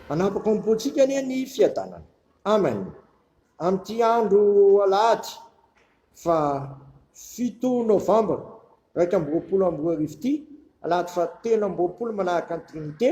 Hanapaka ao amin'ny pontsika anie ny fiadanana. Amen. Amin'ity andro alahady faha fito novambra iraika amby roapolo amby roa arivo ity, alahady faha telo amby roapolo manahaka ny Trinite,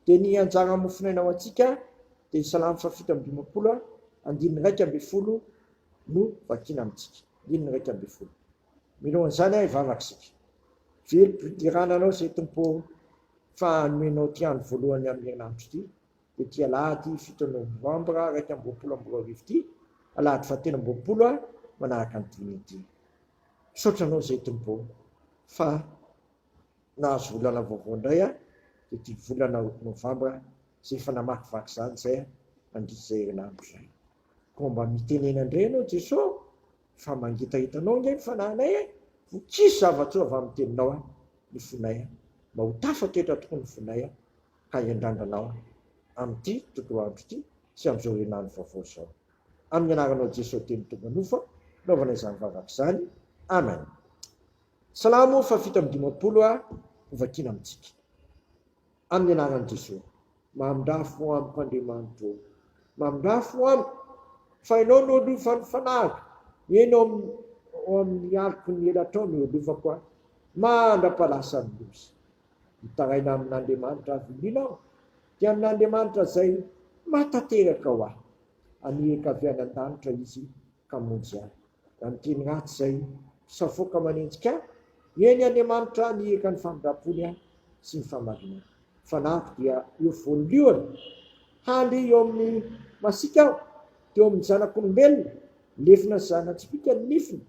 dia ny anjara mofonaina ho antsika dia Salamo faha fito amby dimampolo andininy iraika ambin'ny folo no vakina amintsika. Andininy iraika ambin'ny folo. Mino an'izany aho hivavaka isika. Very fiderana anao se Tompo ô fa nomenao ty andro voalohany amin'ny herinandro ty dia ty alahady fito novambra iraika amby roapolo amby roa arivo ty alahady fahatelo amby roapolo aho manaraka ny dimy ity. Misaotra anao se Tompo ô fa nahazo volana vaovao indray aho dia ty volana novambra izay efa namakivaky izany izay aho nandritra izay herinandro izay. Koa mba mitenena indray ianao Jeso fa mangitahitanao ange ny fanahinay e! Ho tsisy zava-tsoa avy amin'ny teninao a! ny fonay a! Mba ho tafak'etra tokoa ny fonay a! ka hiandrandranao a! amin'ity tontolo andro ity sy amin'izao herinandro vaovao izao. Amin'ny anaranao Jeso teny tonga nofo a! naovana izany vavaka izany. Amen. Salamo fahafito amby dimampolo a! hovakiana amintsika. Amin'ny anaran'i Jesoa. Mamindrafo amiko Andriamanitra o. Mamindrafo amiko fa ianao no olofan'ny fanahiko, eny ao amin'ny aliko ny elatrao no iolofako aho, mandra-palasa ny loza. Mitaraina amin'Andriamanitra avy lina aho, dia amin'Andriamanitra izay mahatanteraka ho ahy. Anihiko avy any an-danitra Izy Hamonjy ahy. Raha ny teny ratsy izay safoaka manenjika ahy, heno Andriamanitra nihiaka ny famindrampony ahy sy ny fahamarinany. Fanahiko dia eo voalohany, handry eo amin'ny masiaka aho, teo amin'ny zanak'olombelona, lefona ny zana-tsipìka ny nifiny,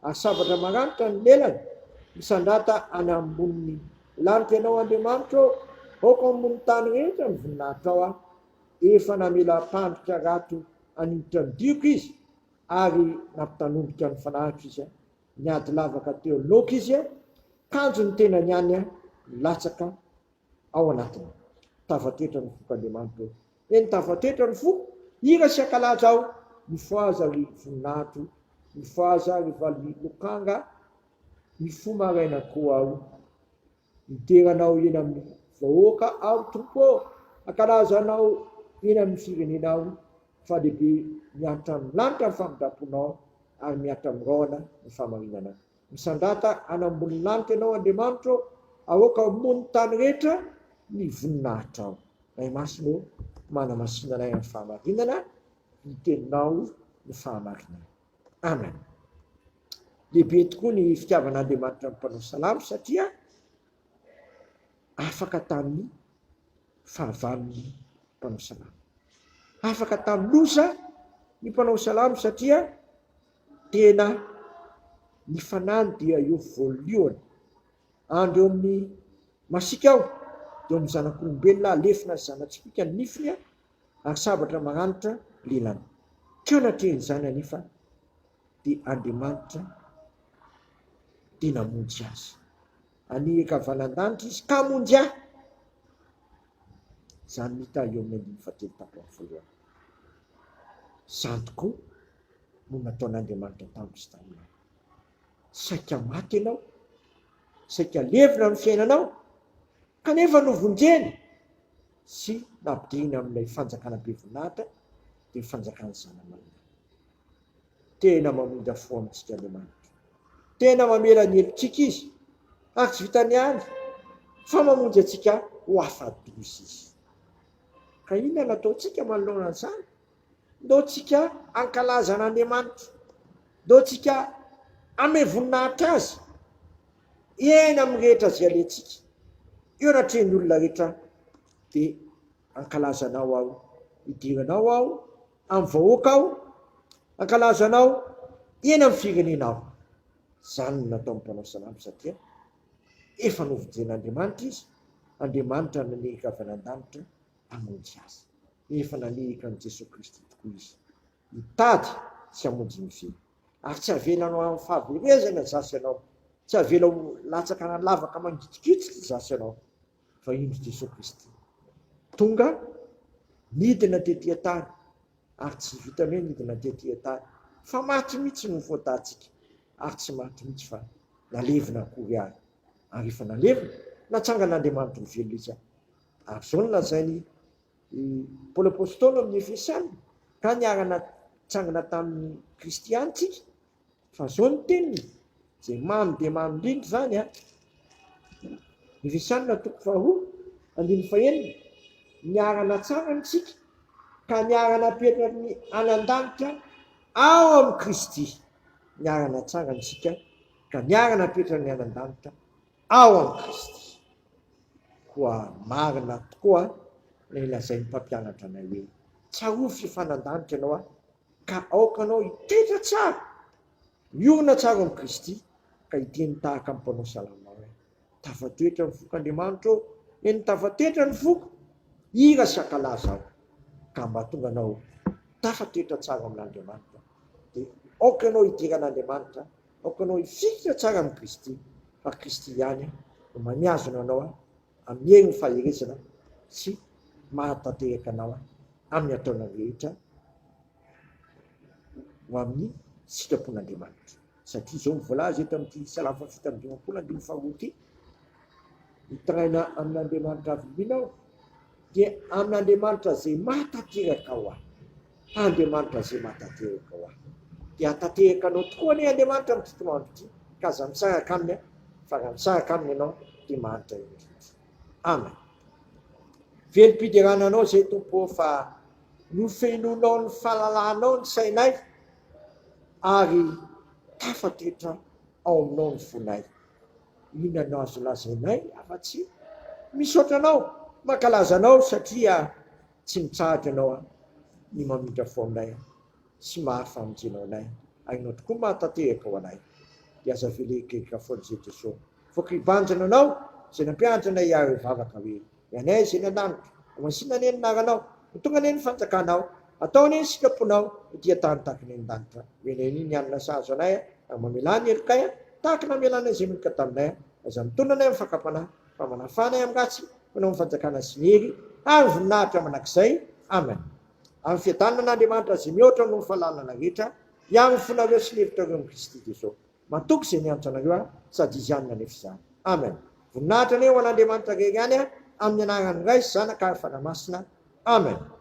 ary sabatra maranitra ny lelany, misandrata any ambonin'ny lanitra Ianao Andriamanitra ô, aoka ho ambony tany rehetra ny voninahitrao aho, efa namelam-pandrika rato Hanindritra ny dioko izy ary nampitanomboka ny fanahiko izy, niady lavaka teo aloako izy, kanjo ny tenany ihany nilatsaka ao anatiny. Tavatetra ny foko Andriamanitra eo. Eny tavatetra ny foko, hira sy hankalaza aho, mifohaza ry voninahitro, mifohaza ry vali-lokanga, mifoha maraina koa aho, Midera anao eny amin'ny vahoaka aho Tompo ô, hankalaza anao eny amin'ny firenena aho, fa lehibe miaritra amin'ny lanitra ny famindram-ponao, ary miaritra amin'ny rahona ny fahamarinanao. Misandrata any ambonin'lanitra ianao Andriamanitra ô, aoka ho moa ny tany rehetra ny voninahitrao. Ray Masina ô, manamasina anay amin'ny fahamarinana, ny teninao no fahamarinana. Amen. Lehibe tokoa ny fitiavan'Andriamanitra ny mpanao salamo satria afaka tamin'ny fahavalon'ny mpanao salamo. Afaka tamin'ny loza ny mpanao salamo satria tena ny fanany dia eo voalohany. Andro eo amin'ny masika aho, dia amin'ny zanak'olombelona alefina zanatsipika ny nifiny Ary sabatra maranitra lelany. Ka natrehiny izany anefa dia Andriamanitra dia namonjy azy. Aniry ka avy any an-danitra izy ka hamonjy ahy. Izany no hita eo amin'ny andininy fahatelo tato amin'ny voalohany. Izany tokoa no nataon'Andriamanitra tamiko sy taminao. Saika maty ianao, saika levona ny fiainanao, kanefa novonjeny. sy nampidirina amin'ilay fanjakana be voninahitra dia ny fanjakan'ny zana-maina. Tena mamindra fo amintsika Andriamanitra. Tena mamela ny helotsika Izy, ary tsy vitan'ny any fa mamonjy antsika ho afa-doza Izy. Ka inona no ataontsika manoloana an'izany? Ndao tsika hankalaza an' Andriamanitra, ndao tsika hanome voninahitra Azy eny amin'ny rehetra izay alehantsika, eo anatrehan'ny olona rehetra dia hankalaza Anao aho, hidera Anao aho amin'ny vahoaka aho, hankalaza Anao eny amin'ny firenena aho. Izany no nataon'ny mpanao salamo satria efa novojen'Andriamanitra izy, Andriamanitra nanery ravana an-danitra hamonjy azy. efa nanehaka an'i Jesoa Kristy tokoa izy, hitady sy hamonjy ny feo. Ary tsy avela ho amin'ny fahaverezana zasy ianao, tsy avela ho latsaka na lavaka mangitikitiky zasy ianao, fa indro Jesoa Kristy tonga, nidina tety an-tany, ary tsy vitan'ny hoe nidina tety an-tany, fa maty mihitsy no faotantsika, ary tsy maty mihitsy fa nalevina akory àry, ary efa nalevina, natsangan'Andriamanitra ho velona izy, ary izao no lazainy I Paoly Apostoly amin'ny Efesiana, ka niara-natsangana tamin'i Kristy ihany isika, fa izao ny teniny, izay mamy dia mamy indrindra izany an. Efesiana toko faharoa, andininy fahenina, niara-natsangana isika, ka niara-napetra ny any an-danitra ao amin'i Kristy, niara-natsangana isika, ka niara-napetra ny any an-danitra ao amin'i Kristy. Koa marina tokoa ilay lazain'ny mpampianatra anay hoe, Tsarovy sy hifanandanika ianao aho, ka aoka anao hitoetra tsara, miorina tsara ao amin'i Kristy, ka hiteny tahaka ny mpanao salamo hoe, Tafatoetra ny foko Andriamanitra ô, eny tafatoetra ny foko, hira sy hankalaza aho. Ka mba tonga anao tafatoetra tsara amin'Andriamanitra, dia aoka ianao hidera an'Andriamanitra Aoka anao hifikitra tsara amin'i Kristy, fa Kristy ihany no mamihazona anao amin'ny herin'ny faherezana sy mahatanteraka anao amin'ny ataonao rehetra ho amin'ny sitrapon'Andriamanitra. Satria izao no voalaza eto amin'ity Salamo fahafito amby dimampolo andininy faharoa ity, Mitaraina amin'Andriamanitra avy mino aho, dia amin'Andriamanitra izay mahatanteraka aho aho. Andriamanitra ze matatehaka ho ahy de hatatehaka anao tokoa anie Andriamanitra amin'ity toandro ity ka aza misahaka aminy an fa raha misahaka aminy ianao de mahantra indrindra. Amen. Velom-piderana anao zay Tompo ô fa nofenoinao ny fahalalanao ny sainay ary tafatoetra ao aminao ny fonay. Inona no azo lazainay afa-tsy misaotra anao, mankalaza anao satria Tsy mitsahatra ianao an ny mamindra fo aminay an sy maha famonjena anay ainao tokoa maha tanteraka ho anay dia aza avela egaega foana izay Jeso voaka hibanjina anao izay nampiandry anay hiaro eo vavaka hoe ny anay izay any andanitra ho masina anie ny anaranao ho tonga anie ny fanjakanao atao anie ny sitraponao ho dia tany tahaka ny any andanitra hoe ny ainy ny alina sahazo anay an ary mamelà ny helokay an tahaka namelànay izay meloka taminay an aza mitondra anay amin'ny fakam-panahy Fa manafana i Amiratsy, mpanao ny fanjakana azy irery, ary voninahitra mandrakizay. Amena. Amin'ny fiadanana Andriamanitra izay mihoatra noho ny fahalalana rehetra, hiaro ny fonareo sy ny hevitrareo amin'i Kristy Jeso. Matoky izay nianatra anareo aho, sady Izy ihany no hanefa izany. Amena. Voninahitra anie ho an'Andriamanitra irery ihany, amin'ny anaran'ny Ray sy Zanaka ary Fanahy Masina. Amena.